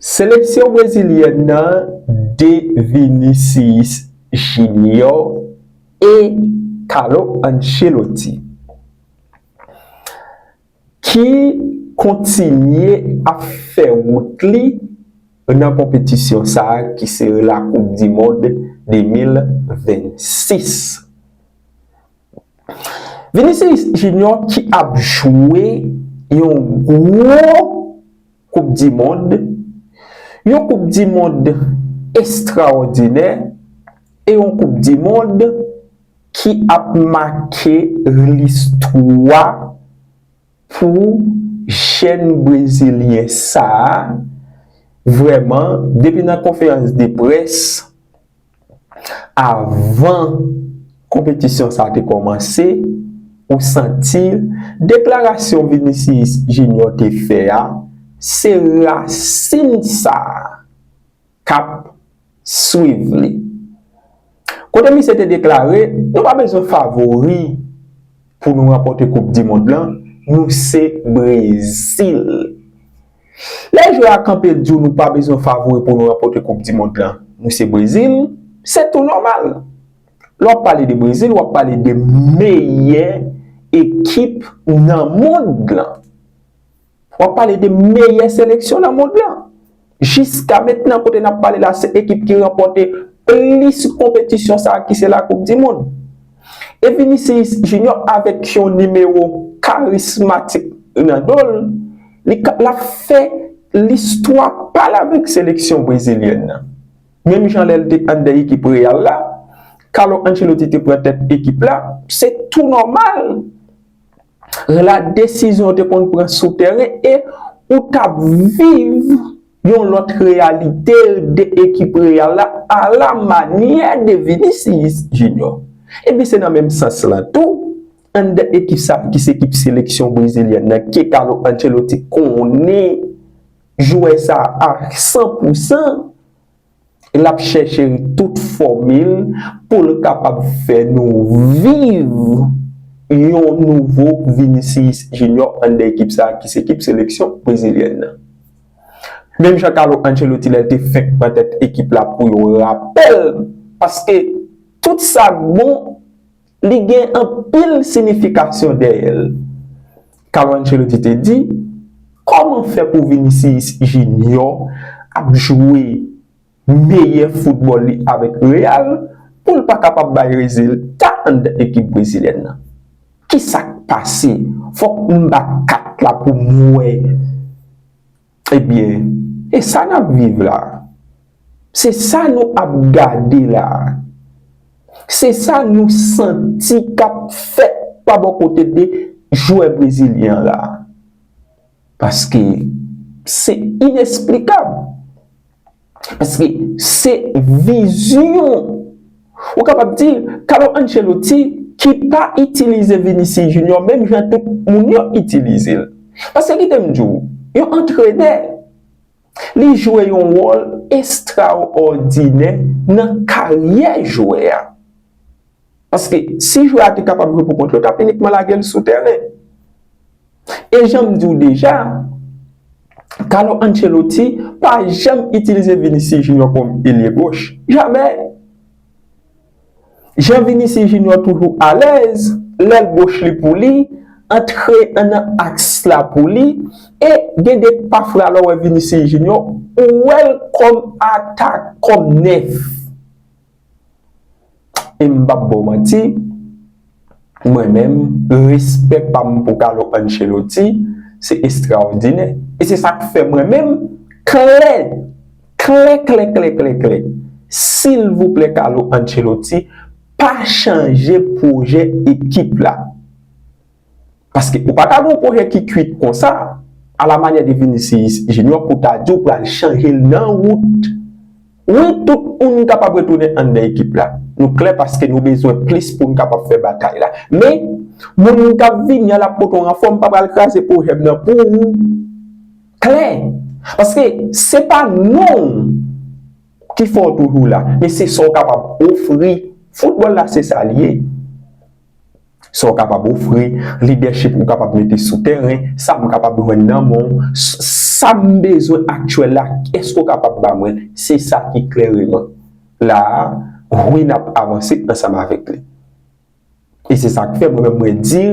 Seleksyon brezilyèn nan de Vinicius Junior e Carlo Ancelotti ki kontinye ap fè wout li nan konpetisyon sa ki se la koup di mond 2026. Vinicius Junior ki ap jwe yon gwo koup di mond, yon koup di mond estrawòdinè e yon koup di mond ki ap make listwa pou jèn brezilyen sa a, vrèman depi nan konferans de près. Avan konpetisyon sa te kòmanse, ou santi deklarasyon Vinicius Junior te fè a, se rasin sa k ap swiv li. Kote misye te deklare, Nou pa bezwen favori pou nou ranpòte koupdimond lan, nou se Brezil. Lè jwè a kanpe di w nou pa bezwen favori pou nou ranpote koup di mond lan, nou se Brezil, se tou nòmal. Lè w ap pale de Brezil, w ap pale de meyè ekip nan mond lan. W ap pale de meyè seleksyon nan mond lan. Jiska mentnan kote n ap pale la se ekip ki ranpote plis konpetisyon sa ki se la koup di mond. E Vinicius Junior avèk yon nimewo karismatik nan do l, li k l ap fè listwa pa l avèk seleksyon brezilyèn nan. Menm jan lè l te anndan ekip Real la, Carlo Ancelotti te pran tèt ekip la, se tou nòmal. rela desizyon ou te konn pran sou tèren e ou t ap viv yon lòt reyalite de ekip Real la ala manyè de Vinicius Junior. Ebyen se nan menm sans lan tou, anndan ekip sa ki se ekip seleksyon brezilyèn nan ke Carlo Ancelotti konnen jwè sa a san pou san, L ap chèche tout fòmil pou l kapab fè nou viv yon nouvo Vinicius Junior anndan ekip sa ki se ekip seleksyon brezilyèn nan. Menm jan Carlo Ancelotti lè l te fenk pran tèt ekip la pou yon rapèl paske tout sa k bon Li gen anpil sinifikasyon dèyè l. Carlo Ancelotti te di, Kòman fè pou Vinicius Junior ap jwe meyè foutbòl li avèk Real pou l pa kapab bay rezilta anndan ekip brezilyèn nan? Ki sa k pase? Fòk m bat kat la pou m wè. Ebyen, e sa n ap viv la a? Se sa nou ap gade la a? Se sa nou santi k ap fèt pa bò kote de jwè brezilyen an la a? Paske se inesplikab. Paske se vizyon. Ou kapab di, Carlo Ancelotti ki pa itilize Vinicius Junior menm jan tout moun yo itilize l. Paske kite m di w, yon antrenè, li jwe yon wòl estrawòdinè nan karyè jwè a. Paske si jwè a te kapab jwe pou kont l, yo t ap inikman lage l sou tèren. E jan m di w deja, Carlo Ancelotti pa janm itilize Vinicius Junior kòm elye goch. Jamè! Jan Vinicius Junior toujou alèz, lèl goch li pou li, antre nan aks la pou li, e gen de pafra lè w wè Vinicius Junior, ou wè l kòm atak, kòm 9. E m pap baw manti, mwen menm, respè pa m pou Carlo Ancelotti se estraòdinè. E se sa k fè mwen menm, klè, klè klè klè klè klè, silvouplè Carlo Ancelotti pa chanje pwojè ekip la. Paske ou pa ka gen yon pwojè ki kwit konsa, a la manyè de Vinicius Junior pou w ta di w pral chanje l nan wout. Wi tout moun kapab retounen anndan ekip la. Nou klè paske nou bezwen plis pou n kapab fè batay la. Men, moun k ap vini a l ap pote yon ranfò, m pa pral kraze pwojè m nan pou ou. Klè! Paske se pa non w ki fè w toujou la, men se sa w kapab ofri. Foutbòl la se sa l ye. Sa w kapab ofri, lidèchip ou kapab mete sou tèren, sa m kapab jwenn nan men w, sa m bezwen aktyèl la, èske w kapab ba mwen l? Se sa ki klèreman la a, wi n ap avanse ansanm avèk li. E se sa k fè mwen menm mwen di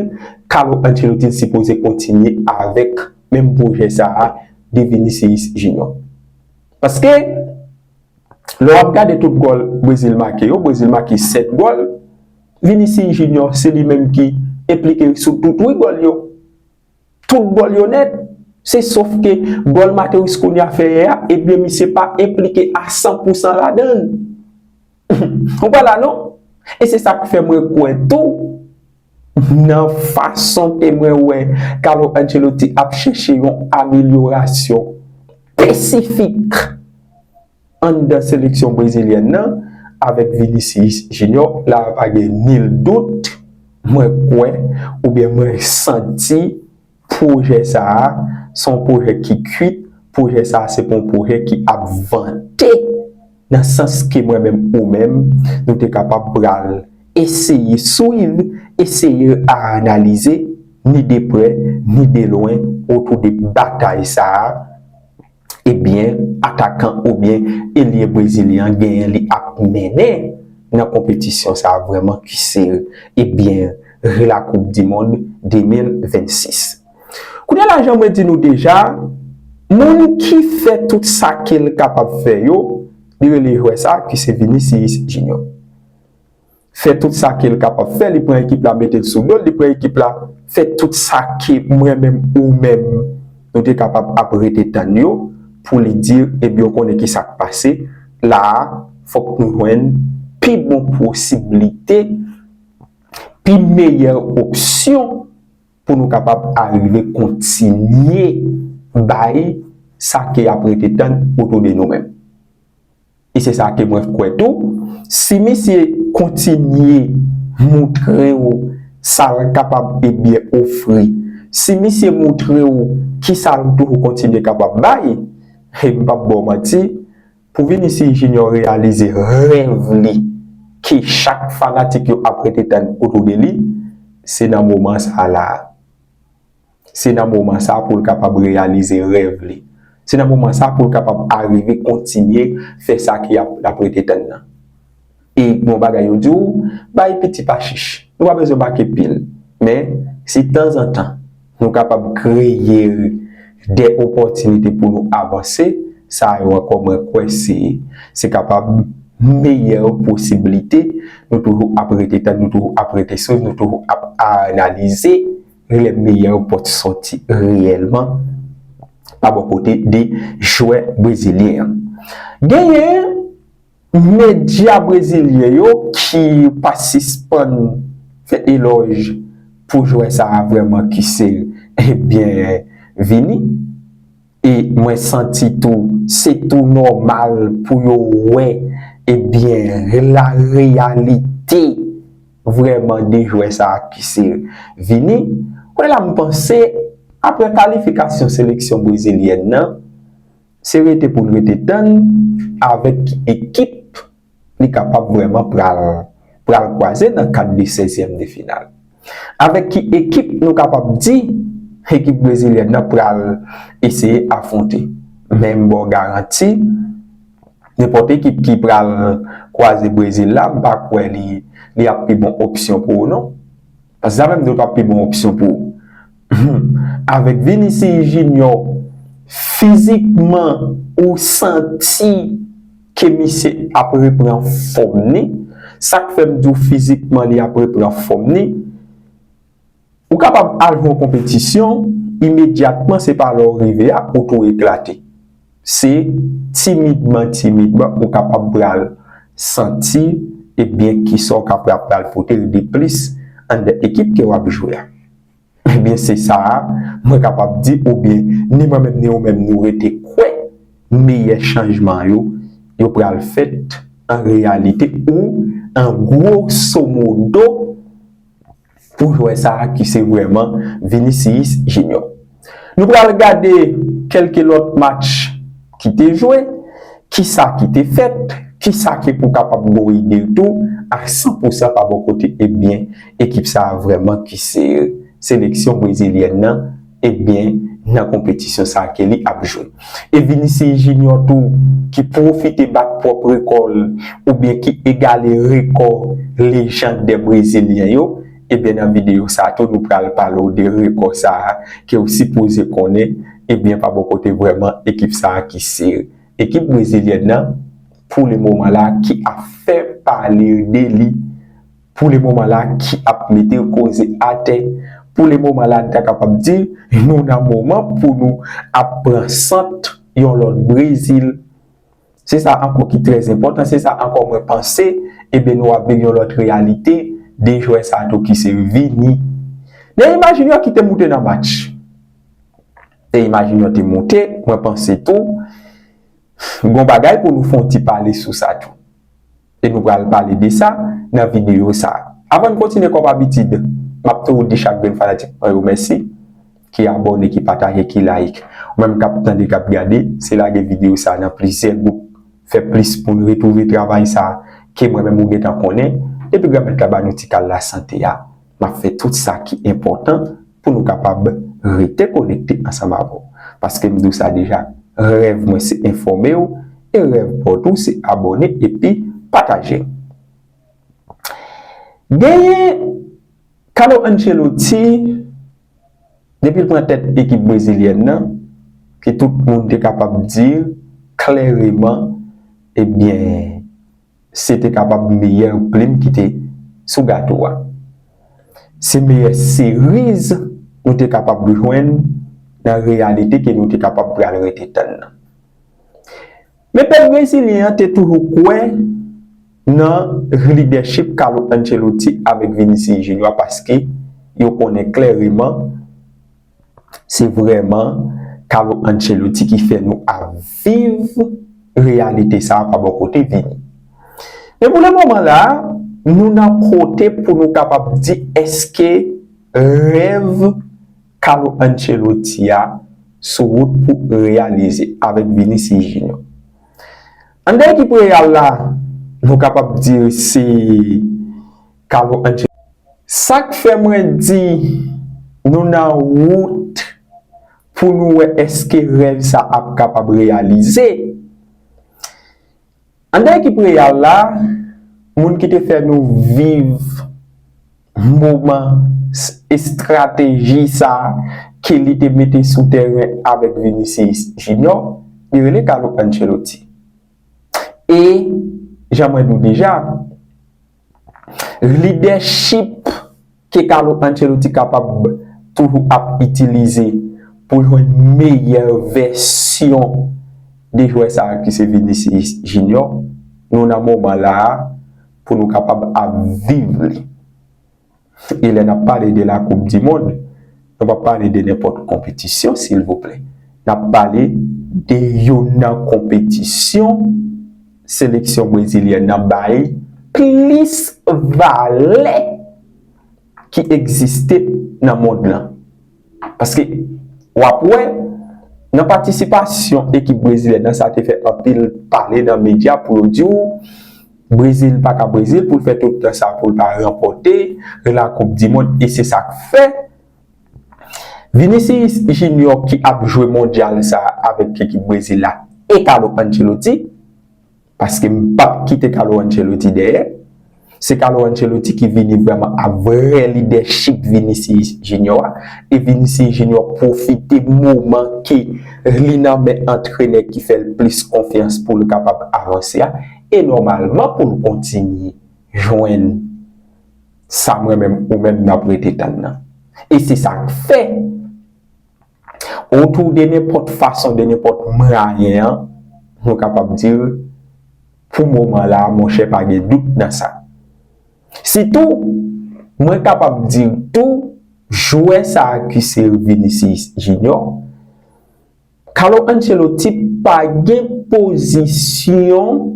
Carlo Ancelotti t sipoze kontinye avèk menm pwojè sa a de Vinicius Junior. Paske lè w ap gade tout gòl Brezil make yo, Brezil make 7 gòl, Vinicius Junior se li menm ki enplike sou tout wi gòl yo. Tout gòl yo nèt. Se sof ke gòl Matheus Cunha fè yè a, ebyen misye pa enplike a san pou san ladan l. Ou pa la non. E se sa k fè mwen kwè tou nan fason ke mwen wè Carlo Ancelotti ap chèche yon amelyorasyon espesifik. Anndan seleksyon brezilyèn nan, avèk Vinicius Junior, la a pa gen nil dout, mwen kwè oubyen mwen santi pwojè sa a se yon pwojè ki kuit, pwojè sa a se pa yon pwojè ki ap vante nan sans ke mwen menm ou menm nou te kapab pral eseye swiv, eseye aanalize ni de prè ni de lwen otou de batay sa a. Ebyen atakan oubyen elye brezilyen an genyen li ap mennen nan konpetisyon sa vrèman kise ebyen re la koup di mond 2026. Kounye la jan mwen di nou deja moun ki fè tout sa kel kapab fè yo li rele jwè sa ki se Vinicius Junior. fè tout sa kel kapab fè li pran ekip la metel sou dol li pran ekip la fè tout sa ke mwen menm ou menm nou te kapab ap rete tann yo pou li dir ebyen ou konnen kisak pase la a fòk nou jwenn pi bon posiblite pi meyè opsyon pou nou kapab arive kontinye bay sa ke yap rete tann otou de nou menm. e se sa ke mwen kwè tou, si misye kontinye moutre ou sa l kapab e byen ofri, si misye moutre ou ki sa l toujou kontinye kapab bay, he m p ap ba w manti, pou Vinicius Junior reyalize rèv li ke chak fanatik yo ap rete tann otou de li, se nan moman sa la a. Se nan moman sa pou l kapab reyalize rèv li. Se nan moman sa pou l kapab arive kontinye fè sa ki ap l ap rete tann nan. E gon bagay yo di w, bay piti pa chich. Nou pa bezwen make pil. Men, si tanzantan nou kapab kreye de opòtinite pou nou avanse, sa yo ankò mwen kwè se se kapab meyè posiblite nou toujou ap rete tann, nou toujou ap rete swiv, nou toujou ap analize Relèv meyè yo pot sòti reyèlman pa bò kote 2 jwè brezilyen an. Genyen medya brezilyen yo ki pa sispann fè elòj pou jwè sa a vrèman ki se Vini. E mwen santi tou se tou nòmal pou yo wè e byen la reyalite vrèman de jwè sa a ki se Vini. Kounyè la m panse aprè kalifikasyon seleksyon brezilyèn nan, se rete pou n rete tann avèk ki ekip li kapab vrèman pral pral kwaze nan kad de 16 zièm de final. Avèk ki ekip nou kapab di ekip brezilyèn nan pral eseye afwonte? Men m baw garanti nenpòt ekip ki pral kwaze Brezil la m pa kwè li ap pi bon opsyon pou ou non. Pase sa menm dwe pa pi bon opsyon pou ou. Humm avèk Vinicius Junior fizikman ou santi ke misye ap repran fòm ni, sak fèm di w fizikman li ap repran fòm ni, ou kapab al yon konpetisyon imedyatman se pa lè w rive a ou tou eklate. Se timidman timidman ou kapab pral santi ebyen kisa w kapab pral pote l deplis anndan ekip ke w ap jwe a. Ebyen se sa a mwen kapab di oubyen ni mwen menm ni ou menm nou rete kwè meyè chanjman yo, yo pral fèt an reyalite ou an gwosomodo pou jwè sa ki se vrèman Vinicius Junior. Nou pral gade kelke lòt match ki te jwe, kisa ki te fèt, kisa ki pou kapab Gori di l tou a 100 pou 100 pa bò kote ebyen ekip sa vrèman ki se seleksyon brezilyèn nan. Ebyen nan konpetisyon sa Kelly ap jwe. E Vinicius Junior tou ki pwofite bat pwòp rekò l oubyen ki egale rekò lejand dè brezilyen yo, ebyen nan videyo sa tou nou pral pale w de rekò sa ke w sipoze konnen, ebyen pa bò kote vrèman ekip sa ki se ekip brezilyèn nan pou le moman la ki ap fè pale de li. Pou le moman la ki ap mete koze atè. Pou le moman la n ta kapab di nou nan moman pou nou ap pran sant yon lòt Brezil. Se sa ankò ki trè enpòtan, se sa ankò mwen panse eben nou ap viv yon lòt reyalite, 2 jwè sa tou ki se Vini. Neymar Junior ki te moute nan match. Neymar Junior te moute, mwen panse tou gon bagay pou nou fon ti pale sou sa tou. e nou pral pale de sa nan videyo sa. Avan n kontinye kòm abitid m ap tou di chak grenn fanatik mwen yo mèsi ki abòne, ki pataje, ki layik. Ou menm k ap tande, k ap gade, se lage videyo sa nan plizyè gwoup, fè plis moun retwouve travay sa ke mwen menm ou gentan konnen. Depi Granmèt la ba nou ti kal lasante a. M ap fè tout sa ki enpòtan pou nou kapab rete konekte ansanm avè w. Paske m di w sa deja, rèv mwen se enfòme w e rèv pa w tou se abòne epi pataje l. Genyen Carlo Ancelotti, depi l pran tèt ekip brezilyèn nan, ke tout moun te kapab di klèreman, ebyen, se te kapab meyè plim ki te sou gato a. Se meyè seriz nou te kapab jwenn nan reyalite ke nou te kapab pral rete tann nan. Men pèp brezilyen an te toujou kwè nan lidèchip Carlo Ancelotti avèk Vinicius Junior paske yo konnen klèreman, Se vrèman Carlo Ancelotti ki fè nou ap viv reyalite sa pa bò kote vini. Men pou le moman la, nou nan kote pou nou kapab di eske rèv Carlo Ancelotti a sou wout pou reyalize avèk Vinicius Junior. Anndan ekip Real la, nou kapab di se. Karo Angel. Sak fè mwen di nou nan wout pou nou wè eske rèv sa ap kapab reyalize. Anndan ekip Real la, moun ki te fè nou viv moman estrateji sa ke li te mete sou tèren avèk Vinicius Junior, li rele Carlo Ancelotti. E, jan mwen di w deja, Lidèchip ke Carlo Ancelotti kapab toujou ap itilize pou jwenn meyè vèsyon de jwè sa ki se Vinicius Junior, nou nan moman la a pou nou kapab ap viv li. E lè nap pale de la koup di mond, nou pa pale de nenpòt konpetisyon silvouplè. Nap pale de youn nan konpetisyon seleksyon brezilyèn nan bay plis valè ki egziste nan mond lan. Paske, w ap wè, nan patisipasyon ekip brezilyen nan sa te fè anpil pale nan medya pou yo di w, Brezil pa ka Brezil pou l fè tout tan sa pou l pa ranpòte lakoupdimond e se sa k fè Vinicius Junior ki ap jwe mondyal sa avèk ekip Brezil la e Carlo Ancelotti. Paske m pap kite Carlo Ancelotti dèyè. Se Carlo Ancelotti ki vini vrèman ak vrè lidèchip Vinicius Junior a. E Vinicius Junior pwofite moman ke li nan men antrenè ki fè l plis konfyans pou l kapab avanse a. E nòmalman pou l kontinye jwenn sa mwen menm ou menm n ap rete tann nan. E se sa k fè. Ou tou de nenpòt fason, de nenpòt mwayen an, nou kapab di l, pou moman la a, monchè pa gen dout nan sa. Sitou, mwen kapab di l tou, jwè sa a ki se Vinicius Junior, Carlo Ancelotti pa gen pozisyon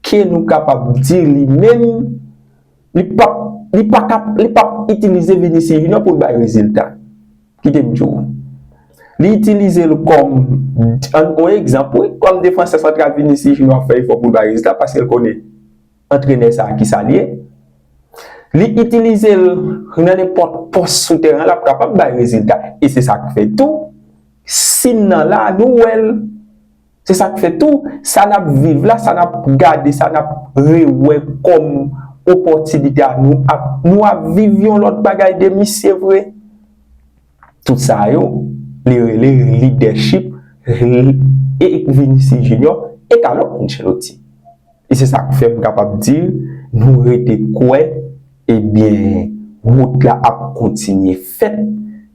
ke nou kapab di li menm, li pap, li pa kap, li pap itilize Vinicius Junior pou l bay rezilta. Kite m di w. Li itilize l kòm yon egzanp wi. Kòm defansè santral Vinicius Junior ap fè efò pou l bay rezilta paske l konnen antrenè sa a ki sa l ye. Li itilize l nan nenpòt pòs sou teren an l ap kapab bay rezilta. E se sa k fè tou si n nan la a nou wè l. Se sa k fè tou, sa n ap viv la, sa n ap gade, sa n ap rewè kòm opòtinite a, nou ap nou ap viv yon lòt bagay de misye vre. Tout sa yo, li rele lidèchip, e Vinicius Junior e Carlo Ancelotti. E se sa k fè m kapab di l, nou rete kwè, ebyen, wout la ap kontinye fèt,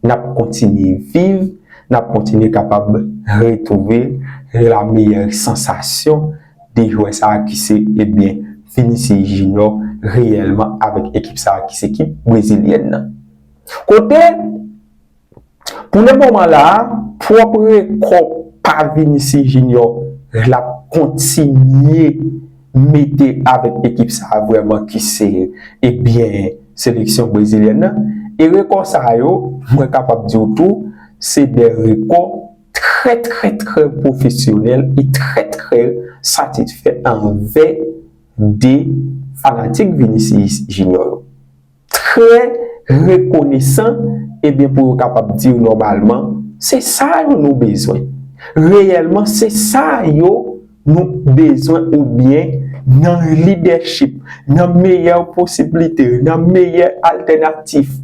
n ap kontinye viv, n ap kontinye kapab retwouve la meyè sansasyon de jwè sa a ki se, ebyen, Vinicius Junior reyèlman avèk ekip sa a ki se ekip brezilyèn nan. Kote. Pou le moman la, pwòp rekò pa Vinicius Junior l ap kontinye mete avèk ekip sa a vrèman ki se ebyen seleksyon brezilyèn nan. E rekò sa yo, mwen kapab di w tou, se de rekò trè trè trè pwofesyonèl e trè trè satisfè anvè de fanatik Vinicius Junior yo. trè rekonesan ebyen pou yo kapab di w nòmalman se sa yo nou bezwen reyèlman se sa yo nou bezwen oubyen nan lidèchip nan meyè posiblite nan meyè altènatif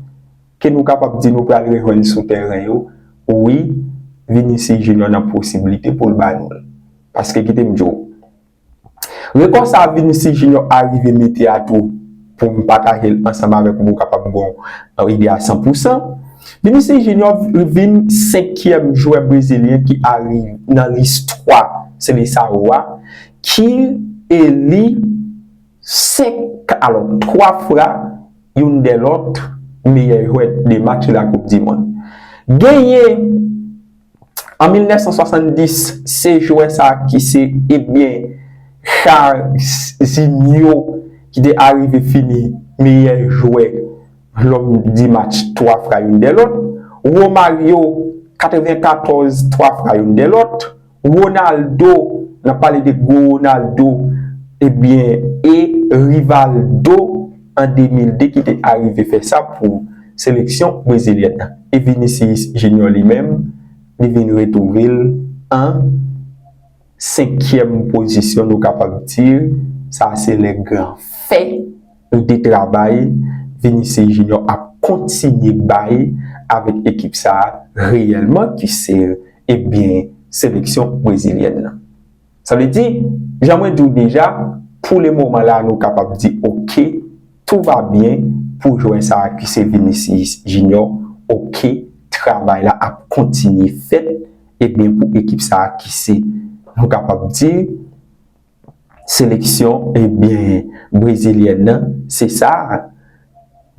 ke nou kapab di nou pral rejwenn sou tèren yo wi Vinicius Junior nan posiblite pou l ba nou l paske kite m di w Repons sa Vinicius Junior arive mete a tou pou m pataje l ansanm avèk ou pou w kapab gen yon ide a san pou san. Vinicius Junior vin senkyèm jwè brezilyen ki ari nan listwa Seleçao a ki eli senk alò twa fwa youn dè lòt meyè jwè de match lakoup dimond. Genyen. An 1970, se jwè sa ki se ebyen Jairzinho ki te arive fini meyè jwè lòm di match 3 fra youn dè lòt, Romario 94 3 fra youn dè lòt, Ronaldo, n ap pale de gwo Ronaldo ebyen e Rivaldo. an 2002 ki te arive fè sa pou seleksyon brezilyèn nan e Vinicius Junior li menm li vin retwouve l an senkyèm pozisyon nou kapab di sa se lè gran fè ou de travay Vinicius Junior ap kontinye bay avèk ekip sa reyèlman ki se ebyen seleksyon brezilyèn nan. Sa vle di, jan mwen diw deja, pou le moman la nou kapab di ok, tou va byen pou jwè sa ki se Vinicius Junior, ok, travay la ap kontinye fèt, e byen pou ekip sa ki se, nou kapab di, seleksyon e byen brezilyèn nan, se sa,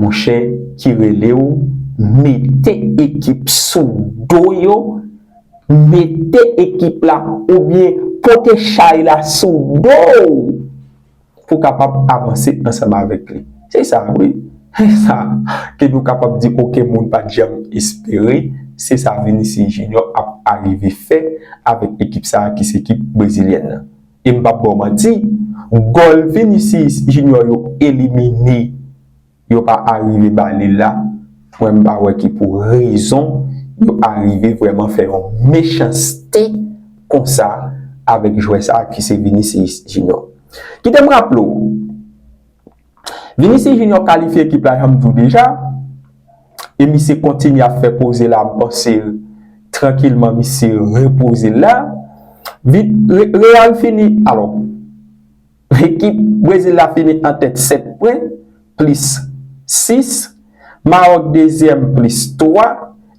Monchè ki relew mete ekip sou do yo mete ekip la oubyen pote chay la sou dow pou kapab avanse ansanm avèk li se sa wi se sa ke nou kapab di oken moun pat janm espere se sa Vinicius Junior ap arive fè avèk ekip sa ki se ekip brezilyèn nan. E m pap ba w manti, gòl Vinicius Junior yo elimine yo pa arive ba li la, mwen m pa wè ki pou rezon yo arive vrèman fè yon mechanste konsa avèk jwè sa ki se Vinicius Junior. Kite m raple w, Vinicius Junior kalifye ekip la janm diw deja e misye kontinye ap fè poze la m panse trankilman misye repoze l la Real fini alò ekip Brezil la fini an tèt 7 pwen plis 6 Maroc dezyèm plis 3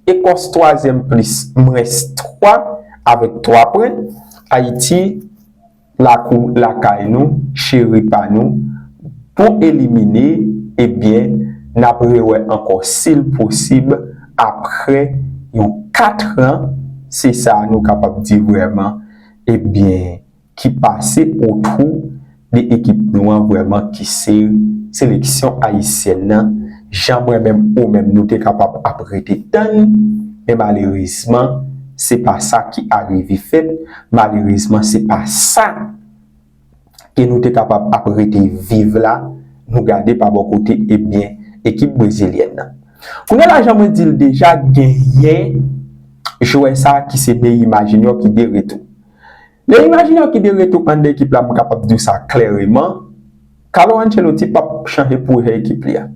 Ecòs twazyèm plis mwens 3 avèk 3 pwen Ayiti lakou lakay nou cheri pa nou pou elimine ebyen nap rewè ankò sil posib aprè yon 4 ran se sa nou kapab di vrèman ebyen ki pase otwou de ekip nou an vrèman kise seleksyon ayisyèn nan jan mwen menm ou menm nou te kapab ap rete tann men malerezman se pa sa ki arive fèt Malerezman se pa sa ke nou te kapab ap rete viv la, nou gade pa bò kote e byen ekip brezilyèn nan. Kounye la jan mwen di l deja genyen jwè sa ki se Neymar Junior ki de retou. Neymar Junior ki de retou anndan ekip la m kapab di w sa klèreman, Carlo Ancelotti pap chanje pwojè ekip li a.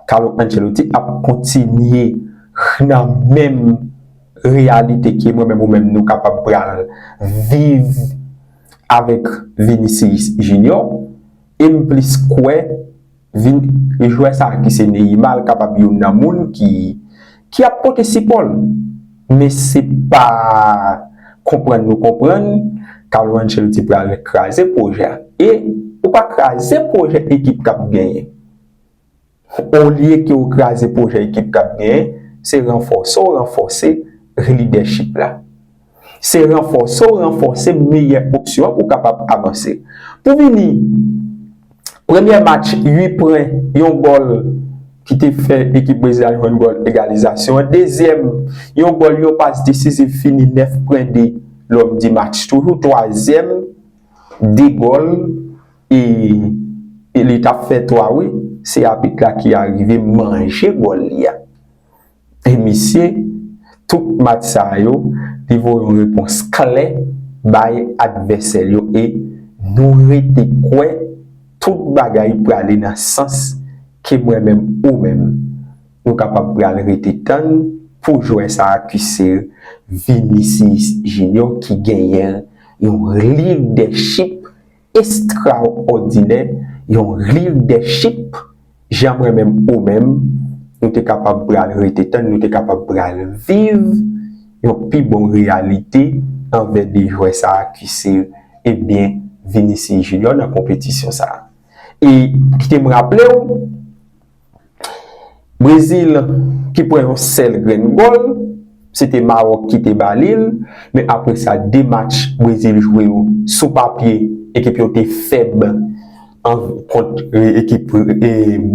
Carlo Ancelotti ap kontinye nan menm reyalite ke mwen menm ou menm nou kapab pral viv avèk Vinicius Junior e m plis kwè Vini jwè sa ki se Neymar l kapab youn nan moun ki ki ap pote sipò l men se pa konprann nou konprann Carlo Ancelotti pral kraze pwojè a e ou pa kraze pwojè ekip k ap genyen Olye ke ou kraze pwojè ekip k ap genyen, se ranfòse w ranfòse lidèchip la. Se ranfòse w ranfòse meyè opsyon an pou w kapab avanse. Pou vini, premyè match, 8 pwen, yon gòl ki te fè ekip Brezil la jwenn gòl egalizasyon an. Dezyèm, yon gòl, yon pas desiziv fini 9 pwen 2 L'homme du match toujou. Twazyèm, 2 gòl. E e li tap fè 3 wi se apit la ki arive manje bòl li a e misye tout match sa yo li voye yon repons klè bay advèsè l yo e nou rete kwè tout bagay prale nan sans ke mwen menm ou menm nou kapab pral rete tann pou jwè sa ki se Vinicius Junior ki genyen yon lidèchip Estraòdinè yon leadership jan mwen menm ou menm nou te kapab pral rete tann nou te kapab pral viv yon pi bon reyalite anvè 2 jwè sa kise ebyen Vinicius Junior nan konpetisyon sa e kite m raplew Brezil ki pran yon sèl grenn gòl, se te Mawòk ki te ba li l, men apre sa 2 match Brezil jwe yo, sou papye ekip yo te fèb kont ekip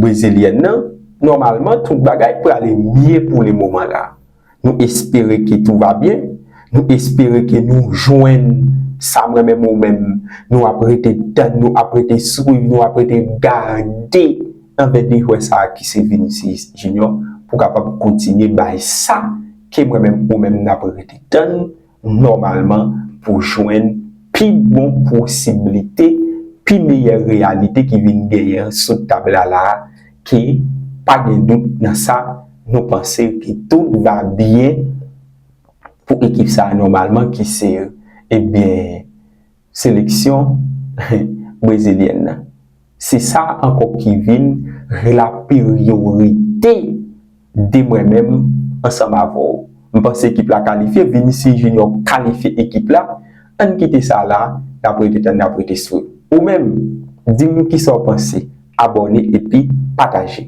brezilyèn nan, nòmalman tout bagay prale mye pou le moman la. Nou espere ke tou va byen, nou espere ke nou jwenn sa mwen menm ou menm nou ap rete tann, nou ap rete swiv, nou ap rete gade anbè de jwè sa ki se Vinicius Junior pou kapab kontinye bay sa ke mwen menm ou menm n ap rete tann nòmalman pou jwenn pi bon posiblite, pi meyè reyalite ki vin genyen an sou tab la la a, ke pa gen dout nan sa, nou panse ke tout va byen pou ekip sa a nòmalman ki se, ebyen, seleksyon brezilyèn nan. Se sa ankò ki vin laperyorite de mwen menm ansanm avè w. M panse ekip la kalifye, Vinicius Junior kalifye ekip la, ann kite sa la, n ap rete tann, n ap rete swe. Ou menm, di m kisa w panse, abòne epi pataje.